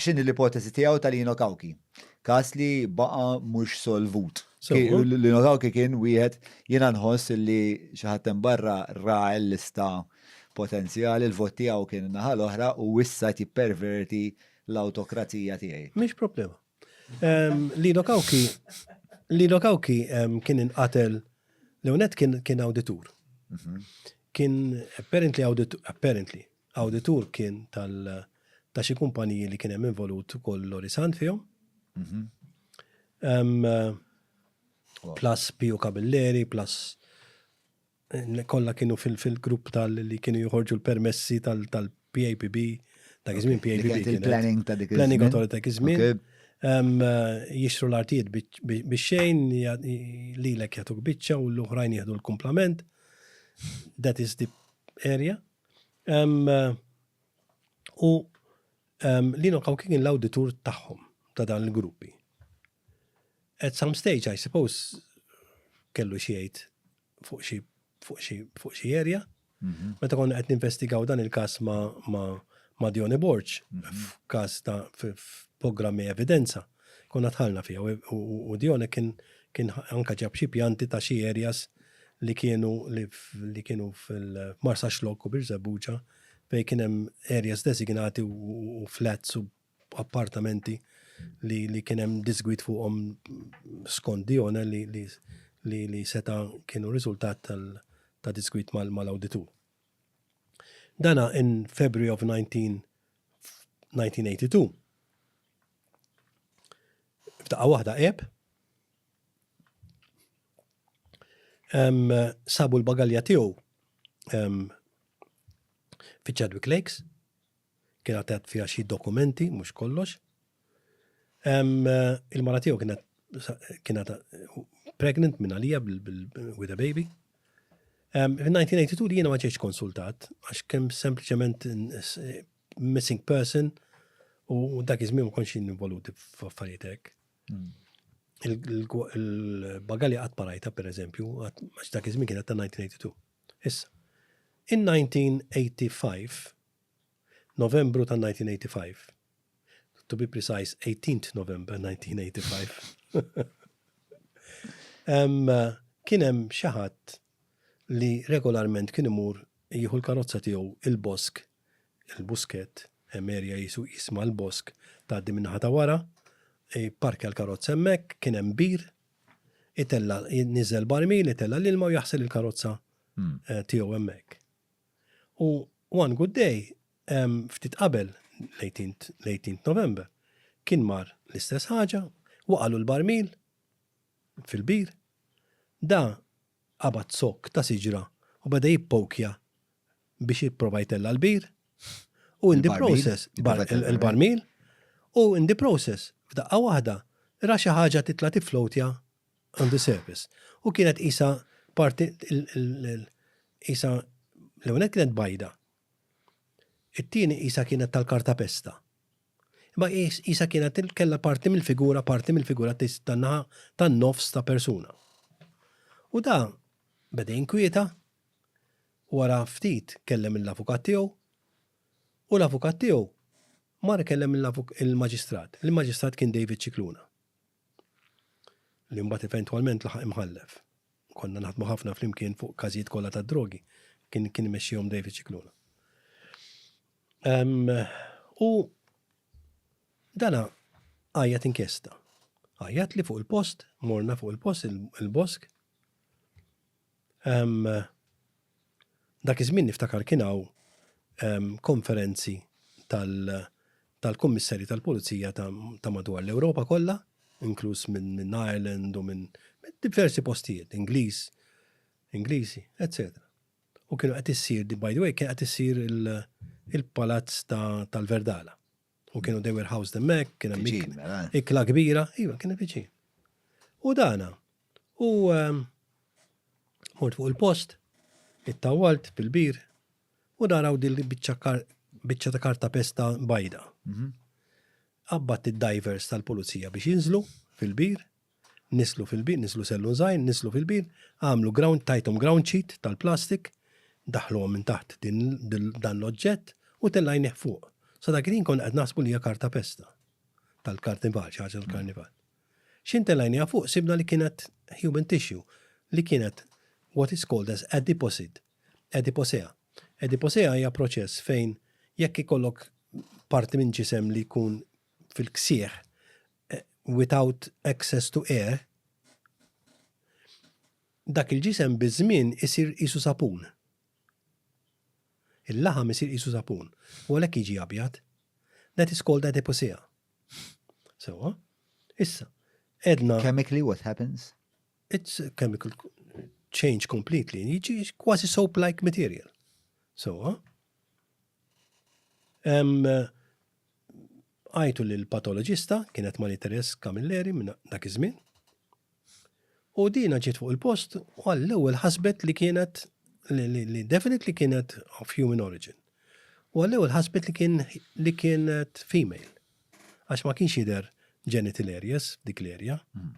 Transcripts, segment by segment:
X'inhi l-ipoteżi tiegħu ta' Lino Cauchi, każ li baqa' mhux solvut? Lino Cauchi kien wieħed jiena nħoss li xi ħadd hemm barra ra l-lista potenzjali, il-vot tiegħu kien in-naħa l-oħra u issa qed jipperverti l-awtokrazija tiegħi. Mhix problema. Lino Cauchi Lino Cauchi kien inqatel l-ewwel nett kien awditur. Kien apparently apparently Awditur kien tal ta' xi kumpaniji li kien hemm involut ukoll Lorisant fihom. Plus Pio Cabelleri, plus kollha kienu fil-grupp tal li kienu joħorġu l-permessi tal-PAPB, dak iż-żmien PAPB. Il-planning ta' dik iż-żmien. Planning Authority ta' iż-żmien. Jixtru l-artijiet biex xejn, lilek jagħtuk biċċa u l-oħrajn jieħdu l-kumplament. That is the area. U Lino Kaw kien l-awditur tagħhom ta' dan il-gruppi. At some stage, I suppose, kellu xiejt fuq xi fuq xi fuq xi area. Mhm. Meta konna qed ninvestigaw dan il-każ ma' ma' ma' Dione Borg, mhm. f'każ ta' programmi evidenza. Konna dħalna fiha u Dione kien kien anka ġab xi pjanti ta' xi areas li kienu li kienu fil-Marsa Xlok u Birżebbuġa fejn kien hemm areas designati u flats u appartamenti li li kien hemm disgwid fuqhom skont Dione li li li seta' kienu riżultat tal ta' disgwid mal-awditur. Dana in February of 19 1982. F'daqqa waħda qeb. Sabu l-bagalja tiegħu fi Chadwick Lakes. Kien għatet fija xi dokumenti, mhux kollox. Il-mara tiegħu kienet kienet pregnant minn għalija with a baby. Fil-1982 jiena ma ġejtx konsultat, għax kemm sempliċement missing person u dak iż-żmien ma kontx involuti f'affarijiet hekk. Hmm. Il-bagali qatt ma rajta pereżempju, għax dak iż-żmien kienet ta' 1982. Issa, in 1985 Novembru ta' 1985, to be precise 18th November 1985. Eh, kien hemm xi ħadd li regolarment kien imur jieħu l-karozza tiegħu il-bosk il-buskett, hemm erja qisu jisma' l-bosk tgħaddi min-naħa ta' wara, ipparkja l-karozza hemmhekk, kien hemm bir, itella' niżel barmil, itella' l-ilma u jaħsel il-karozza tiegħu hemmhekk. U one good day, ftit qabel l-18th November, kien mar l-istess ħaġa, waqagħlu l-barmil fil-bir, da qabad zokk ta' siġra u beda jippokja biex jipprova jtella l-bir u in the process il-barmil u in the process f'daqqa waħda ra xi ħaġa titla' tifflowtja on the surface. U kienet qisha parti qisha l-ewwel nett kienet bajda. It-tieni qisha kienet tal-kartapesta. Imma qisha kienet kellha parti mill-figura, parti mill-figura tan-naħa tan-nofs ta' persuna. U da beda jinkwieta Wara ftit kellem lill-avukat tiegħu u l-avukat tiegħu mar ikellem lill-maġistrat. Il-maġistrat kien David Scicluna li mbagħad eventwalment laħaq imħallef. Konna naħdmu ħafna flimkien fuq każijiet kollha tad-drogi. Kien kien imexxihom David Scicluna. U dana għajjat inkjesta. Għajjat li fuq il-post, morna fuq il-post, il-bosk, Dak iż-żmien niftakar kien hawn konferenzi tal-Kummissarji tal-Pulizija ta' madwar l-Ewropa kollha, inkluż minn Ireland u minn diversi postijiet, Ingliż, Ingliżi, eċċetera. U kienu qed issir, by the way, kien qed issir il-palazz tal-Verdala. U kienu they were housed hemmhekk, kien hemm Viċin, ik- mela. ikla kbira, iva kien hemm viċin. U dana. U ehm, mort fuq il-post, it-tawalt bil-bir, u naraw din biċċa kar- biċċa ta' karta pesta bajda. Mhm. Qabbat id-divers tal-pulizija biex jinżlu fil-bir, Niżlu fil-bir, niżlu sellun żgħir, niżlu fil-bir, għamlu ground, tajthom ground sheet tal-plastik, daħħluhom minn taħt dan l-oġġett u tellajnih fuq. Sa dak il-ħin konna qed naħsbu li hija karta pesta tal-karnival, xi ħaġa tal-karnival. X'in tellajniha fuq sibna li kienet human tissue li kienet what is called as adiposid, adiposea. Adiposea hija proċess fejn jekk ikollok parti minn ġisem li jkun fil-ksieħ without access to air, dak il-ġisem biż-żmien isir qisu sapun. Il-laħam isir qisu sapun. U għalhekk jiġi abjad. That is called adiposea. Sewwa? Issa, edna. Chemically what happens? It's a chemical change completely. Jiġi kważi soap-like material. Sewwa? Għajtu lil patoloġista kienet Marie Therese Camilleri minn dak iż-żmien. U dina ġiet fuq il-post u għall-ewwel ħasbet li kienet li definitely kienet of human origin. U għall-ewwel ħasbet li kien li kienet female. Għax ma kienx jidher genitaliaries dik l-erja. Hmm.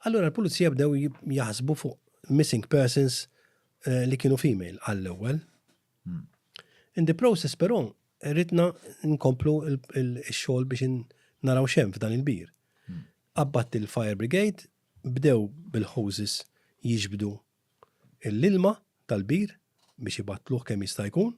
Allura l-pulizija bdew jaħsbu fuq missing persons eh, li kienu female għall-ewwel. Hmm. In the process però rritna nkomplu il-xogħol biex naraw xem f'dan il-bir. Hmm. Abbat il-fire brigade bdew bil-hoses jiġbdu l-ilma tal-bir biex ibatluħ kemm jista' jkun.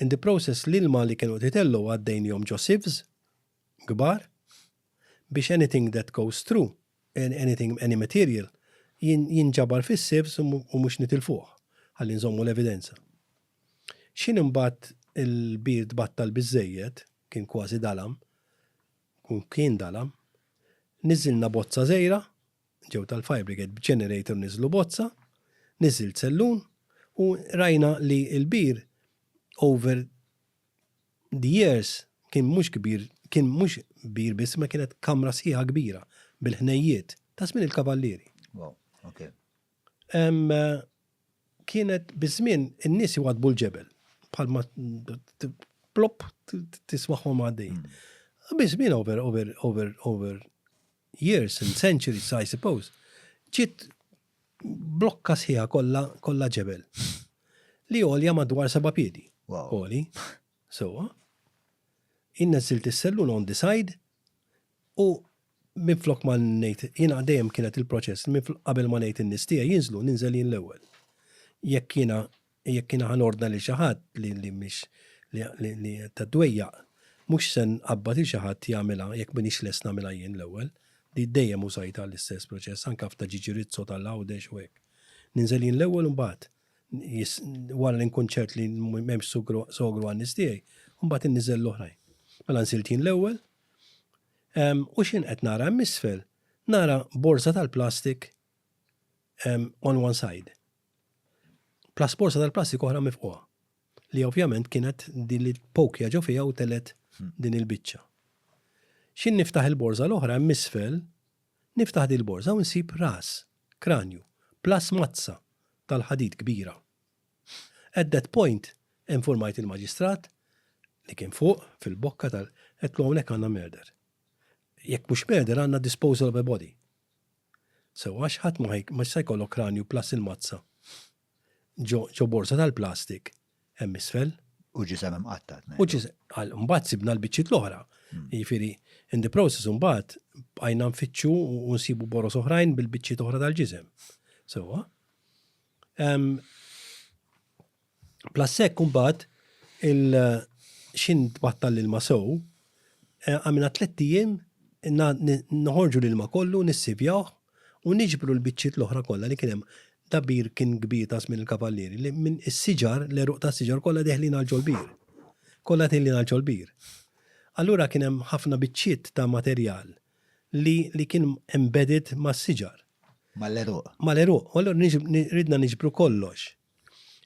In the process l-ilma li kienu titellu għaddejn jom ġo sieves, gbar, biex anything that goes through, anything, any material, jinġabar fis-safes u mhux nitilfuh, ħalli nżommu l-evidenza. X'ħin imbagħad il-bir tbattal biżżejjed, kien kważi dalam, u kien dalam, niżżilna bozza żgħira, ġew tal-fire brigade b'generator niżlu bozza, niżżilt sellun u rajna li l-bir over The Years kien mhux kbir kien mhux kbir biss imma kienet kamra sħiħa kbira bil-ħnejjiet ta' żmien il-Kavallieri. Wow, ok. Kienet biż-żmien in-nies iwadbu l-ġebel bħalma plop tismagħhom għaddejjin. Hmm. Biż-żmien over over over over years and centuries, I suppose, ġiet blokka sħiħa kollha kollha ġebel. Li għolja madwar seba' piedi. Għoli. Sewa. Innezzilt is-sellun on the side u minn flok ma ngħid jiena dejjem kienet il-proċess minn qabel ma ngħid in-nies tiegħi jinżlu ninżel jien l-ewwel. Jekk jiena Jekk jiena ħa nordna lil xi ħadd li li mhix li li ta' dwejjaq, mhux se nqabbad lil xi ħadd jagħmilha jekk m'iniex lest nagħmilha jien l-ewwel. Di dejjem użajtha l-istess proċess anke f'ta' Ġiġi Rizzo ta' l-Għawdex u hekk. Ninżel jien l-ewwel u mbagħad wara li nkun ċert li m'hemmx sogru għan-nies tiegħi, mbagħad inniżel l-oħrajn. Mela nżilt jien l-ewwel u x'jien qed nara hemm isfel, nara borża tal-plastik on one side. Plus borsa tal-plastik oħra mifquha. Li ovvjament kienet din li pokja ġo fiha u telet hmm. din il-biċċa. Xin niftaħ il-borza l-oħra hemm isfel, niftaħ din il-borza u nsib ras, kranju, plus mazza tal-ħadid kbira. At that point, informajt il-maġistrat li kien fuq fil-bokka tal-qed hawnhekk għandna murder. Jekk mhux murder għandna disposal of a body. Sewwa għax ħadd ma hi ma jista' jkollok kranju plus il-mazza ġo ġo borża tal-plastik hemm isfel. U ġisem imqatta' U tnejn. ġise għal mbagħad sibna l-biċċiet l-oħra. Jiġifieri in the process imbagħad bqajna nfittxu u u nsibu boroż oħrajn bil-biċċiet oħra tal-ġisem. Sewwa? Ehm, Plus hekk imbagħad il x'int tbattal l-ilma sew, għamilna tlett ijiem noħorġu l-ilma kollu, nissivjawh u niġbru l-biċċiet l-oħra kollha li kien hemm. Dal-bir kien kbir ta' żmien il-Kavallieri li minn is-siġar, l-għeruq tas-siġar kollha deħlin għal ġol-bir. Kollha deħlin għal ġol-bir. Allura kien hemm ħafna biċċiet ta' materjal li li kien embedded mas-siġar. Mal-għeruq. Mal-għeruq. U allura ridna niġbru kollox.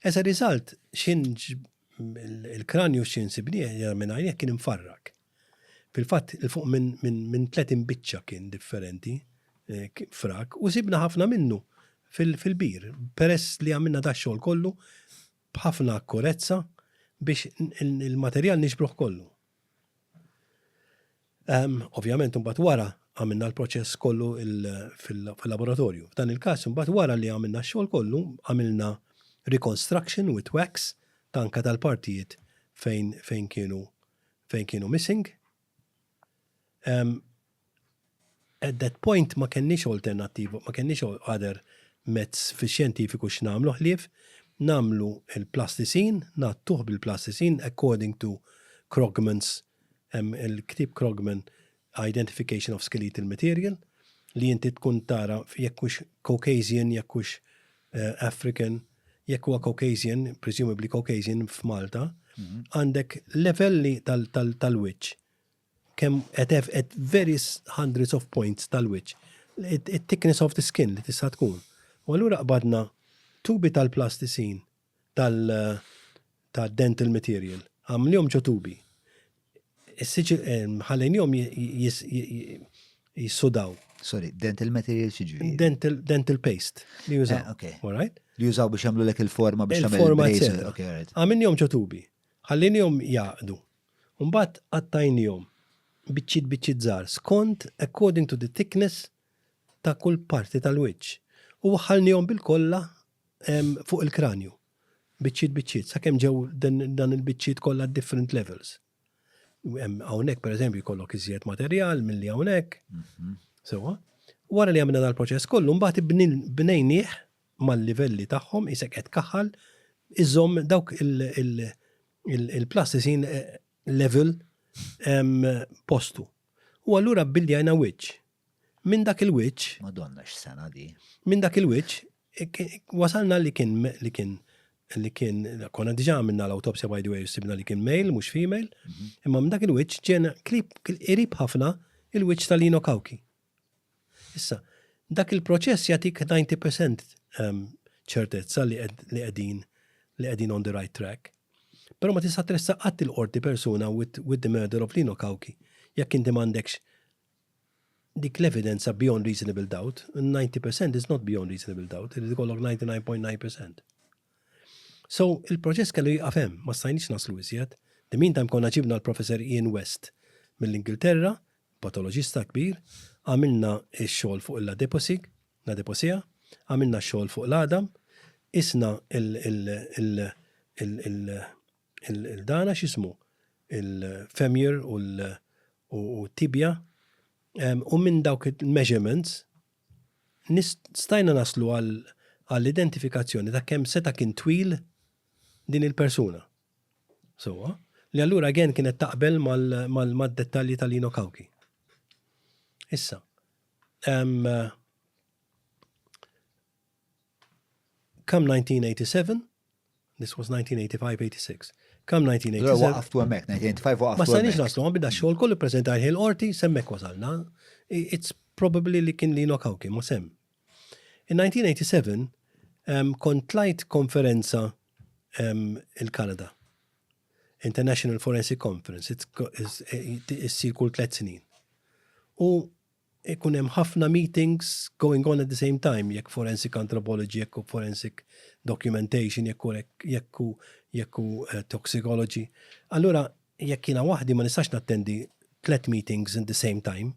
As a result, x'in il-kranju x'in sibni ġara minn għajnejh kien imfarrak. Fil-fatt, il-fuq minn 30 biċċa kien differenti eh, frak u sibna ħafna minnu fil-bir. Peress li għamilna da xogħol kollu b'ħafna akkurezza biex il-materjal nixbruħ kollu. Ovvjament imbagħad wara għamilna l-proċess kollu fil-laboratorju. F'dan il-każ imbagħad wara li għamilna x-xogħol kollu, għamilna reconstruction with wax ta' anke tal-partijiet fejn kienu missing. At that point ma kellniex alternattiva, ma kellniex other mezz fix-xjentifiku x'nagħmlu ħlief nagħmlu l-plasticine, ngħattuh bil-plasticine according to Krogman's, hemm il-ktieb Krogman Identification of Skeletal Material, li inti tkun tara jekk hux Caucasian, jekk hux African, jekk huwa Caucasian, presumably Caucasian f'Malta, għandek levelli tal-wiċċ Kemm qed at various hundreds of points tal-wiċċ, it-thickness of the skin li tista' tkun. U allura qbadna tubi tal-plastisin tal-dental material, għamlnihom ġo tubi. Ħallejnihom jissudaw. Sorry, dental material xiġri? Dental paste li jużaw. Eh, okay. All right? Li jużaw biex jagħmlu lek il-forma biex jagħmlu il-forma. Għamilnihom ġo tubi. Ħallejnihom jaqdu. U mbagħad qattajniehom biċċiet biċċiet żgħar skond according to the thickness ta' kull parti tal-wiċċ u waħħalniehom bilkollha fuq il-kranju biċċiet biċċiet sakemm ġew dan il-biċċiet kollha different levels. Hawnhekk pereżempju jkollok iżjed materjal milli hawnhekk. Mhm. Sewa. Wara li għamilna dal-proċess kollu, mbagħad bnejnieh mal-livelli tagħhom isek qed kaħal iżomm dawk il- il-plastisin level postu. U allura billi għajna wiċċ. Minn dak il-wiċċ. Madonna x-sena di. Minn dak il-wiċċ wasalna li kien li kien li kien konna diġà minna l-autopsja by the way sibna li kien male mhux female, mhm. imma minn dak il-wiċċ ġena qrib ħafna il-wiċċ tal-Lino Kawki. Issa, dak il-proċess jagħtik 90% ehm, ċertezza li qegħdin li qegħdin on the right track. Però ma tista' tressa qatt il-qorti persuna with, with the murder of Lino Kawki jekk inti m'għandekx dik l-evidenza beyond reasonable doubt, 90% is not beyond reasonable doubt, li kollok 99.9%. So, il-proċess kellu jgħafem, ma stajniex naslu iżjed. The meantime konna ġibna l-professor Ian West mill-Ingilterra, patoloġista kbir, għamilna x-xogħol fuq l-adipocig, l-adiposia, għamilna x-xogħol fuq l-għadam, qisna l-dana x'ismu, il-femur u t-tibja, u minn dawk il-measurements stajna naslu għall-identifikazzjoni ta' kemm seta' kien twil din il-persuna. Sewwa, li allura again kienet taqbel mad-dettalji ta' Lino Cauchi. Issa, come 1987, this was 1985-86, come 1987. Waqaftu hemmhekk, 1985 waqaftu. Ma sanix naslu, ma bida xogħol kollu preżentajh il-qorti, semmek wasalna. It's probably li kien li nokaw kien, ma sem. In-1987 kont tlajt konferenza il-Kanada, International Forensic Conference, issir kull tliet snin. U ikun hemm ħafna meetings going on at the same time, jekk forensic anthropology, jekk forensic documentation, jekk jekk toxicology. Allura jekk jiena waħdi ma nistax nattendi tlet meetings in the same time.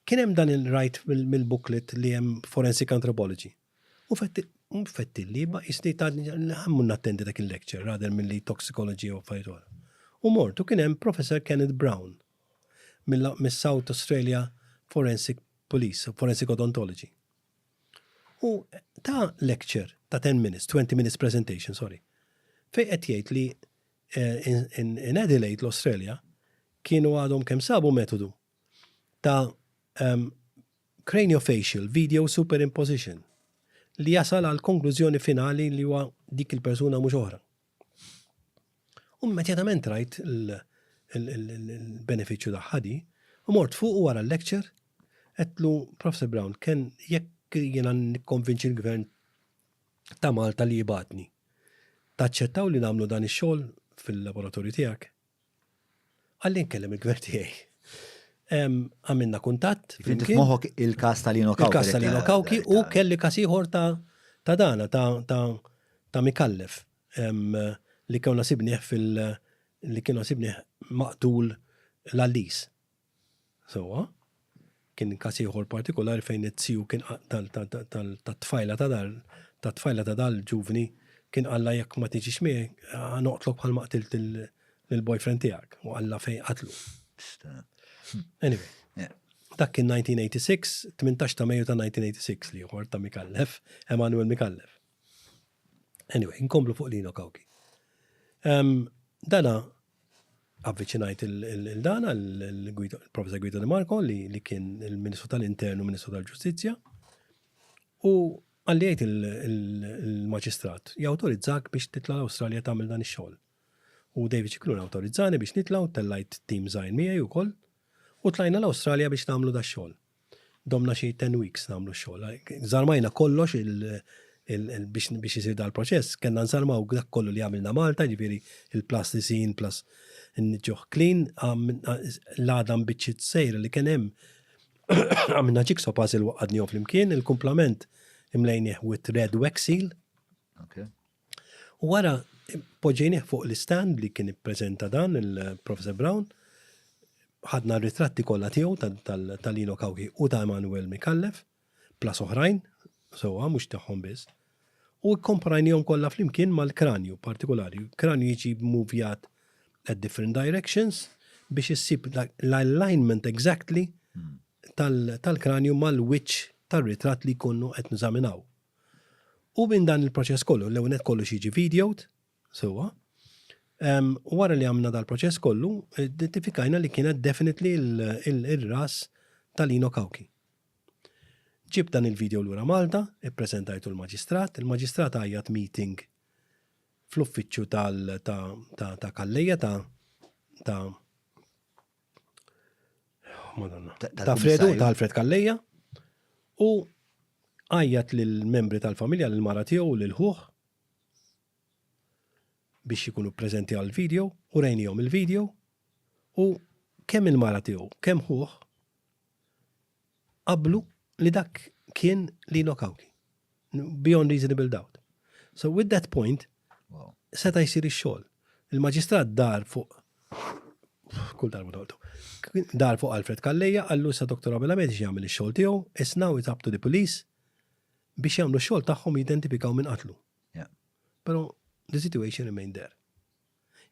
Kien hemm dan il-rajt mill-booklet li hemm forensic anthropology. U fetti li ma jisni ta' ħammu nattendi dak il-lecture rather mill-li toxicology u fajtor. U mortu kien hemm Professor Kenneth Brown mill-South Australia Forensic Police, Forensic Odontology. U ta' lecture ta' 10 minutes, 20 minutes presentation, sorry, fej qed jgħid li In Adelaide, l-Australia, kienu għadhom kemm sabu metodu ta' craniofacial video superimposition li jasal għal konklużjoni finali li huwa dik il-persuna mhux oħra. U immedjatament rajt il-benefiċċju ta' ħadi, u mort fuq u wara l-lecture, għetlu Professor Brown, kien jekk jiena nikkonvinċi l-gvern ta' Malta li jibgħatni. Taċċettaw li nagħmlu dan ix-xogħol fil-laboratorju tiegħek? Qalli nkellem il-gvern tiegħi. Għamilna kuntatt. Finti f'moħħok il-każ tal-Ino Kawki. Il-każ tal-Ino Kawki u kelli każ ieħor ta' dana ta' Mikallef li kienu sibnieh fil- li kienu sibnieh maqtul l-Allis. sewwa. Kien każ ieħor partikulari fejn it-tiju kien tat-tfajla ta' dan tat-tfajla ta' dan il-ġuvni kien qallha jekk ma tiġix miegħi ħa noqtlok bħalma qtilt lill-boyfriend tiegħek u qallha fejn qatlu. Anyway, dak kien 1986, tmintax ta' Mejju ta' 1986 l-ieħor ta' Micallef, Emanuel Micallef. Anyway, inkomplu fuq Lino Cauchi. Dana avviċinajt il-dana, il-Professor Guido De Marco, li kien il-Ministru tal-Intern u Ministru tal-Ġustizzja, u għalli għajt il-maġistrat, jawtorizzak biex titla l-Australja tagħmel dan ix-xogħol. U David Cicluna awtorizzani biex nitla u tellajt tim żgħir miegħi wkoll u tlajna l-Awstralja biex nagħmlu da xogħol. Domna xi ten weeks nagħmlu x-xogħol. Żarmajna kollox biex isir dal-proċess, kellna nżarmaw dak kollu li għamilna Malta, ġifieri il-plastisin plus nġuh clean, l-għada mbiċċiet sejra li kien hemm għamilna jigsaw puzzle waqqadnihom flimkien, il-kumplament imlejnieh with red wax seal. U wara poġġejnieh fuq l-istand li kien ippreżenta dan il-Professor Brown, ħadna r-ritratti kollha tiegħu ta' Lino Cauchi u ta' Emanuel Micallef, plus oħrajn, sewwa mhux tagħhom biss, u kkomparajniehom kollha flimkien mal-kranju partikulari. Kranju jiġi mmuvjat at different directions biex issib l-alignment exactly tal-kranju mal-wiċċ tar-ritratt li jkunu qed neżaminaw. U minn dan il-proċess kollu, l-ewwel nett kollox jiġi videot, sewwa. U wara li għamna dal-proċess kollu, identifikajna li kienet definitely il-ras tal-Ino Kawki. Ġib dan il-video lura Malta, ippreżentajtu l-maġistrat, il-maġistrat għajjat meeting fl-uffiċċju ta' Kalleja ta' Ta' Fredu, ta' Alfred Kalleja, u għajjat lill-membri tal-familja, lill-mara tiegħu, lill-ħuħ, biex jikunu prezenti għal-video, u rejnijom il-video, u kemm il-mara tiegħu, kemm ħuħ, qablu li dak kien Lino Kawki. Beyond reasonable doubt. So with that point, seta jisir ix-xogħol. Il-maġistrat dar fuq kull darba noltu. Dar fuq Alfred Kalleja, għallu sa Dr. Abel Ahmed jagħmel ix-xogħol tiegħu, it's now it's up to the police biex jagħmlu x-xogħol tagħhom jidentifikaw minn qatlu. Però the situation remained there.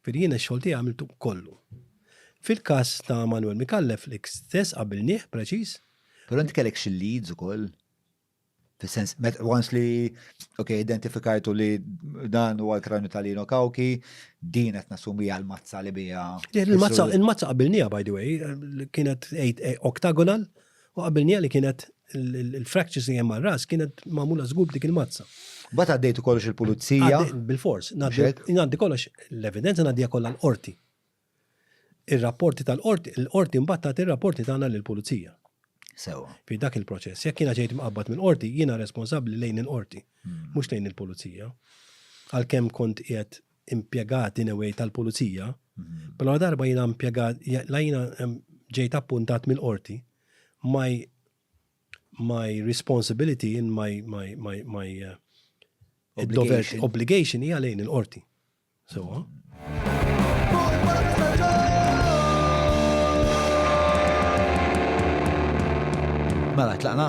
Ġifieri jiena x-xogħol tiegħi għamiltu kollu. Fil-każ ta' Manuel Micallef l-istess qabilnieh preċiż. Però inti kellek xi leads ukoll? Fis-sens, once li, ok, identifikajtu li dan huwa l-kranju ta' Lino Kawki, din qed nassumi għal mazza li biha. Il-mazza qabilniha, by the way, kienet oktagonal, U qabilnija li kienet il-fractures li hemm ras kienet magħmula żgur dik il-mazza. Bat għaddejtu kollox il-pulizija? Bil-fors, ngħaddi kollox l-evidenza ngħaddija kollha l-qorti. Ir-rapporti tal-qorti, l-qorti mbagħad tagħti ir-rapporti tagħna lill-pulizija. Sewa. Fi dak il-proċess, jekk jiena ġejt mqabbad mill-qorti, jiena responsabbli lejn il-qorti, hmm. mhux lejn il-pulizija. Għalkemm kont qiegħed impjegat in a way tal-pulizija, però la darba jiena impjegat, la jiena ġejt appuntat mill-qorti, my, my responsibility in my, my, my, my uh, obligation. obligation hija lejn il-qorti. So, huh? Mela, tlaqna?